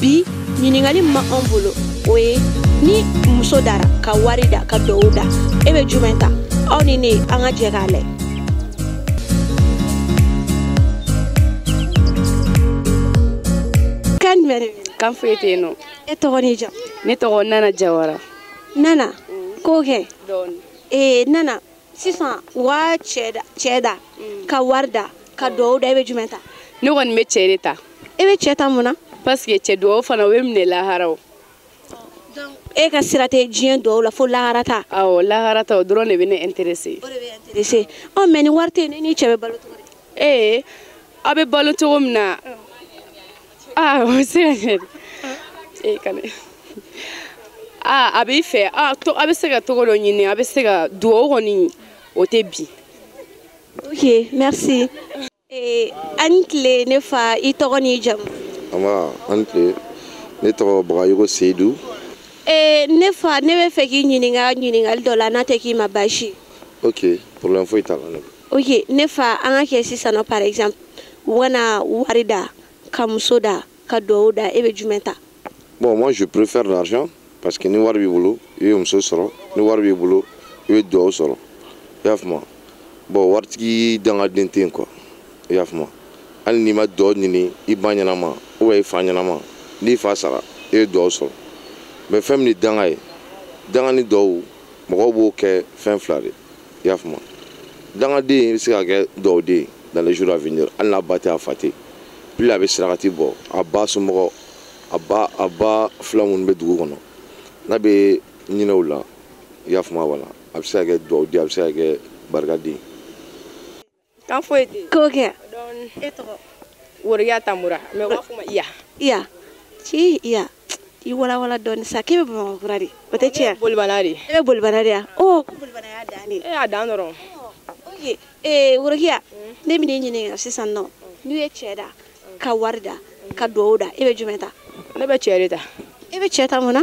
bi ɲininkali ma an bolo o ye ni muso dara ka wari da ka duwawu da e bɛ jumɛn ta aw ni ne an ka jɛ k'a lajɛ kan jumɛn de bɛ kan foyi tɛ yen nɔ e tɔgɔ n'i jamu ne tɔgɔ nana jawara nana ko kɛ ee nana sisan u ka cɛ da cɛ da mm. ka wari da ka duwawu da i bɛ jumɛn ta ne kɔni bɛ cɛ de ta i e bɛ cɛ ta mun na parce que cɛ duwawu fana o bɛ minɛ lahara o e ka sira tɛ diɲɛ duwawu la fo lahara ta awɔ lahara ta o dɔrɔn de bɛ ne intéresser o de b'e intéresser ɔ mais ni wari tɛ yen e n'i cɛ bɛ balo cogo di ee aw bɛ balo cogo min na mm. Ah, o bɛ se ka kɛ dɛ. Eh, kale. Ah, a b'i fɛ. Ah, to a bɛ se ka cogo dɔ ɲini. A bɛ se ka duwawu kɔni o tɛ bi. Ok, merci. Eh, an ni tile ne fa i tɔgɔ n'i jamu. Nba, an ni tile. Ne tɔgɔ Bagayogo Seyidu. Eh, ne fa ne bɛ fɛ k'i ɲininka ɲininkali dɔ la n'a tɛ k'i ma baasi ye. Ok, problème foyi t'a la. ok ne fa an ka kɛ sisan nɔ par exemple u kana wari da ka muso da ka duwawu da e bɛ jumɛn ta bon moi je préfère l'argent parce que ni wari b'i bolo i bɛ muso sɔrɔ ni wari b'i bolo i bɛ duwawu sɔrɔ i y'a faamu bon waritigi dangaden tɛ yen quoi i y'a faamu hali n'i ma duwawu ɲini i ba ɲɛnama ou bien i fa ɲɛnama n'i fa sara i bɛ duwawu sɔrɔ mais fɛn min ye danga ye danga ni duwawu mɔgɔw b'o kɛ fɛn fila de i y'a faamu dangaden bɛ se ka kɛ duwawuden dans les jours à venir hali n'a ba tɛ a fa tɛ plus a bɛ sarakati bɔ a ba somɔgɔ a ba a ba filan minnu bɛ dugu kɔnɔ n'a bɛ hinɛ u la i y'a faamu wala a bɛ se ka kɛ duwawuden a bɛ se ka kɛ barikaden kan foyi tɛ ko kɛ e tɔgɔ worokiya tamura mais u b'a fɔ n ma iya iya ci iya i walawala dɔɔni sa k'e bɛ bamakɔkura de o tɛ tiɲɛ bolibana de e bɛ bolibana de ya o bolibana y'a dan de e y'a dan dɔrɔn ok ee worokiya ne bɛ n'i ɲininka sisan nɔ n'u ye cɛ da ka wari da ka duwawu da e bɛ jumɛn ta ne bɛ cɛ de ta e bɛ cɛ ta mun na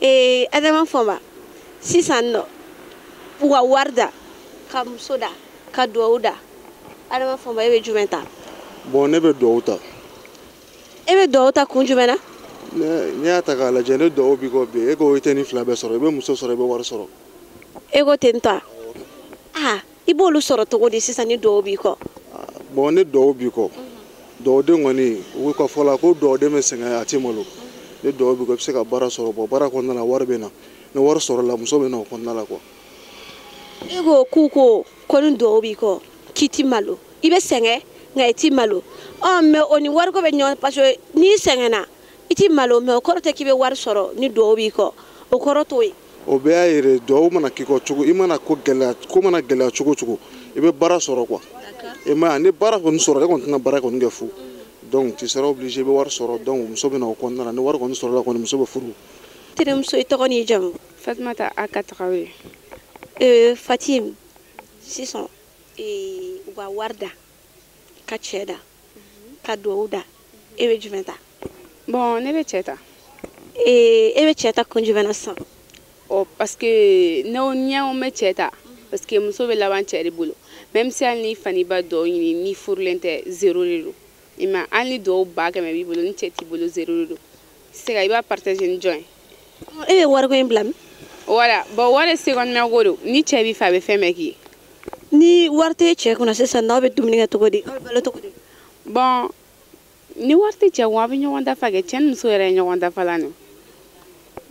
ee adama fɔnba sisan nɔ u ka wari da ka muso da ka duwawu da adama fɔnba e bɛ jumɛn ta bon ne bɛ duwawu ta e bɛ duwawu ta kun jumɛn na n'i y'a ta k'a lajɛ ni duwawu b'i kɔ bi e ko i tɛ nin fila bɛɛ sɔrɔ i bɛ muso sɔrɔ i bɛ wari sɔrɔ e ko ten tɔ a aa i b'olu sɔrɔ cogo di sisan ni duwawu b'i kɔ bon ni duwawu b'i kɔ duwawuden kɔni u ka fɔ la ko duwawuden bɛ sɛgɛn a tɛ malo ni duwawu b'i kɔ i bɛ se ka baara sɔrɔ bon baara kɔnɔna na wari bɛ na ni wari sɔrɔla muso bɛ na o kɔnɔna la quoi i ko k'u ko ko ni duwawu b'i kɔ k'i ti malo i bɛ sɛgɛn nka i ti malo ɔ mais o ni wariko bɛ ɲɔgɔn parce que n'i sɛgɛnna i ti malo mais o kɔrɔ tɛ k'i bɛ wari sɔrɔ ni duwawu b'i kɔ o kɔrɔ t'o ye o bɛɛ y'a yɛrɛ duwawu mana k'i kɔ cogo i mana ko gɛlɛya ko mana gɛlɛya cogo o cogo i bɛ baara sɔrɔ quoi i m'a ye ni baara kɔni sɔrɔ e kɔni tɛna baara kɔni kɛ fu donc tu seras obligé i bɛ wari sɔrɔ donc muso bɛ na o kɔnɔna na ni wari kɔni sɔrɔla kɔni muso bɛ furu terimuso i tɔgɔ n'i jamu fatumata aka tarawele fatim sisan u ka wari da ka cɛ da ka duwawu da e bɛ jumɛn ta bon ne bɛ cɛ ta ee e bɛ cɛ ta kun jumɛn na sisan ɔ parce que ne ɲɛ na n bɛ cɛ ta parce que muso bɛ laban cɛ de bolo même si hali n'i fa n'i ba duwawu ɲini n'i furulen tɛ zero de don i ma hali ni duwawu ba kɛmɛ b'i bolo ni cɛ t'i bolo zero de don i tɛ se ka i b'a partager ni jɔn ye e bɛ wariko in bila min voilà bon wari secondement ko don ni cɛ b'i fɛ a bɛ fɛn bɛɛ k'i ye ni wari tɛ cɛ kunna sisan n'aw bɛ dumuni kɛ cogo di aw bɛ balo cogo di bon ni wari tɛ cɛ kun a bɛ ɲɔgɔn dafa kɛ cɛ ni muso yɛrɛ ye ɲɔgɔn dafalan de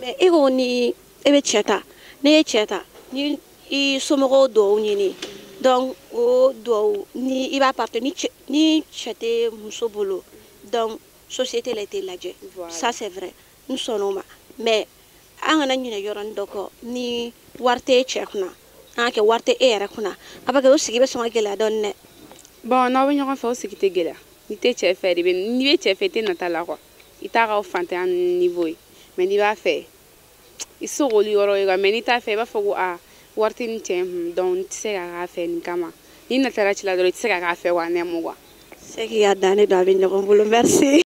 mais e ko ni e bɛ cɛ ta ne ye cɛ ta ni i somɔgɔw dugawu ɲini donc o dugawu nin i b'a partager ni cɛ ni cɛ tɛ muso bolo donc société la i tɛ lajɛ ça c'est vrai n sɔnna o ma mais an kana ɲinɛ yɔrɔnin dɔ kɔ ni wari tɛ e cɛ kunna an k'a kɛ wari tɛ e yɛrɛ kunna a b'a kɛ o sigi bɛ sɔn ka gɛlɛya dɔɔni dɛ bon n'aw bɛ ɲɔgɔn fɛ o sigi tɛ gɛlɛya n'i tɛ cɛ fɛ de bɛ n'i bɛ cɛ fɛ i tɛ nata la quoi i t'a ka fantanya niveau ye mais n'i b'a fɛ i tɛ se k'olu yɔrɔ ye quoi mais n'i t'a fɛ i b'a fɔ ko a wari tɛ nin cɛ kun donc n tɛ se ka k'a fɛ nin kama n'i natara cɛ la dɔrɔn i tɛ se ka k'a fɛ wa l'amour quoi c'est qu'il y a dannen don a bɛ ɲɔgɔn bolo merci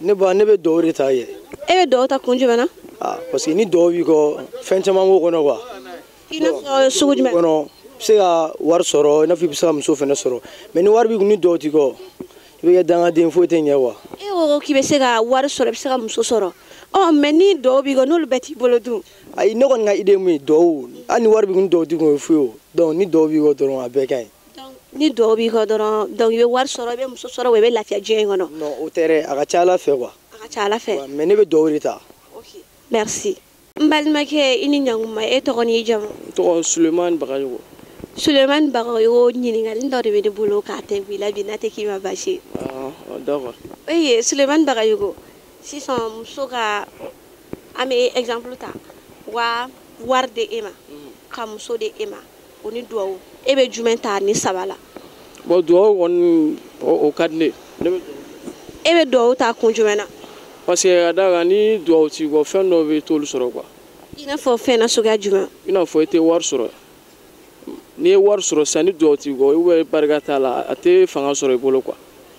ne ba ne bɛ dugawu de ta ye e bɛ dugawu ta kun jumɛn na ah, parce que ni dugawu b'i kɔ fɛn caman b'o kɔnɔ quoi i n'a fɔ sugu jumɛn kɔnɔ i bɛ se ka wari sɔrɔ i n'a fɔ i bɛ se ka muso fana sɔrɔ mais ni wari b'i kun ni dugawu t'i kɔ i bɛ kɛ dangaden foyi tɛ ɲɛ quoi e ko k'i bɛ se ka wari sɔrɔ i bɛ se ka muso sɔrɔ ɔ mais ni dugawu b'i kɔ n'olu bɛɛ t'i bolo dun ayi ne kɔni ka idée mun ye dugawu hali ni wari b'i kun ni dugawu t'i kun o ye fu ye o donc ni dugawu b'i kɔ dɔrɔn a bɛɛ ka ɲi ni dugawu b'i kɔ dɔrɔn donc i bɛ wari sɔrɔ i bɛ muso sɔrɔ wa i bɛ lafiya diɲɛ in kɔnɔ non o tɛ dɛ a ka ca ala fɛ quoi a ka ca ala fɛ mais ne bɛ dugawu de ta ok merci n balimakɛ i ni ɲankuma e tɔgɔ n'i jamu n tɔgɔ sulemani bagayogo sulemani bagayogo ɲininkali dɔ de bɛ ne bolo k'a tɛ b'i la bi n'a tɛ k'i ma baasi ye ah, oh, d'accord eye sulemani bagayogo sisan muso ka an bɛ exemple ta wa wari di e ma mhm. ka muso di e ma o ni duwawu e bɛ jumɛn ta nin saba la bon duwawu kɔni o ka di ne ye e bɛ duwawu ta kun jumɛn na parce que ka d'a kan ni duwawu t'i kɔ fɛn dɔw bɛ i t'olu sɔrɔ quoi i n'a fɔ fɛn na suguya jumɛn i n'a fɔ i tɛ wari sɔrɔ n'i ye wari sɔrɔ sisan ni duwawu t'i kɔ ou bien barika t'a la a tɛ fanga sɔrɔ i bolo quoi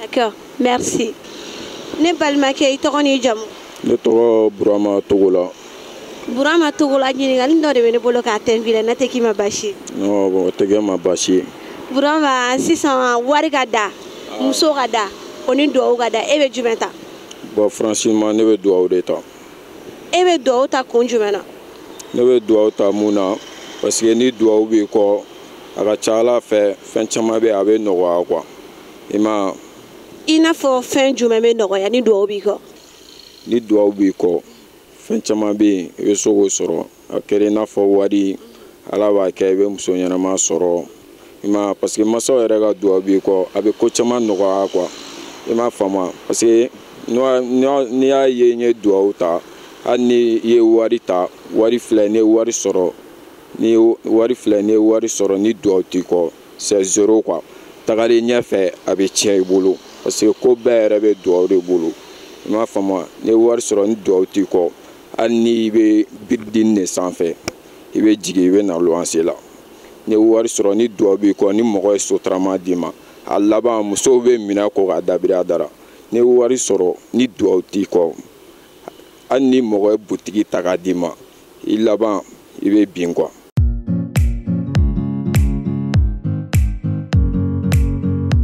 D'accord, merci. Ne balimakɛ i tɔgɔ n'i jamu. Ne tɔgɔ Burama Togola. Burama Togola ɲininkali dɔ de bɛ ne bolo k'a tɛnku i la n'a tɛ k'i ma baasi ye. Non, bon, o tɛ kɛ n ma baasi ye. Burama sisan wari ka da, muso ka da, o ni duwawu ka da e bɛ jumɛn ta? Bon, franchement ne bɛ duwawu de ta. E bɛ duwawu ta kun jumɛn na? Ne bɛ duwawu ta mun na parce que ni duwawu b'i kɔ, a ka ca a la fɛ fɛn caman bɛ a bɛ nɔgɔya quoi. i ma i n'a fɔ fɛn jumɛn bɛ nɔgɔya ni duwawu b'i kɔ ni duwawu b'i kɔ fɛn caman bɛ yen i bɛ se k'o sɔrɔ a kɛra i n'a fɔ wari ala b'a kɛ i bɛ muso ɲɛnama sɔrɔ i ma parce que masaw yɛrɛ ka duwawu b'i kɔ a bɛ ko caman nɔgɔya quoi i m'a faamu parce que n'i y'a ye n ye duwawu ta hali ni i ye wari ta wari filɛ n'i ye wari sɔrɔ ni duwawu t'i kɔ c'est zéro quoi tagalen ɲɛfɛ a bɛ tiɲɛ i bolo parce que ko bɛɛ yɛrɛ bɛ duwawu de bolo i m'a faamu n'i ye wari sɔrɔ ni duwawu t'i kɔ hali n'i bɛ biridini de sanfɛ i bɛ jigin i bɛ na luwanse la n'i ye wari sɔrɔ ni duwawu b'i kɔ ni mɔgɔ ye sotarama d'i ma a laban musow bɛ minɛ ko k'a dabiri a dara n'i ye wari sɔrɔ ni duwawu t'i kɔ hali ni mɔgɔ ye butigi ta k'a d'i ma i laban i bɛ bin quoi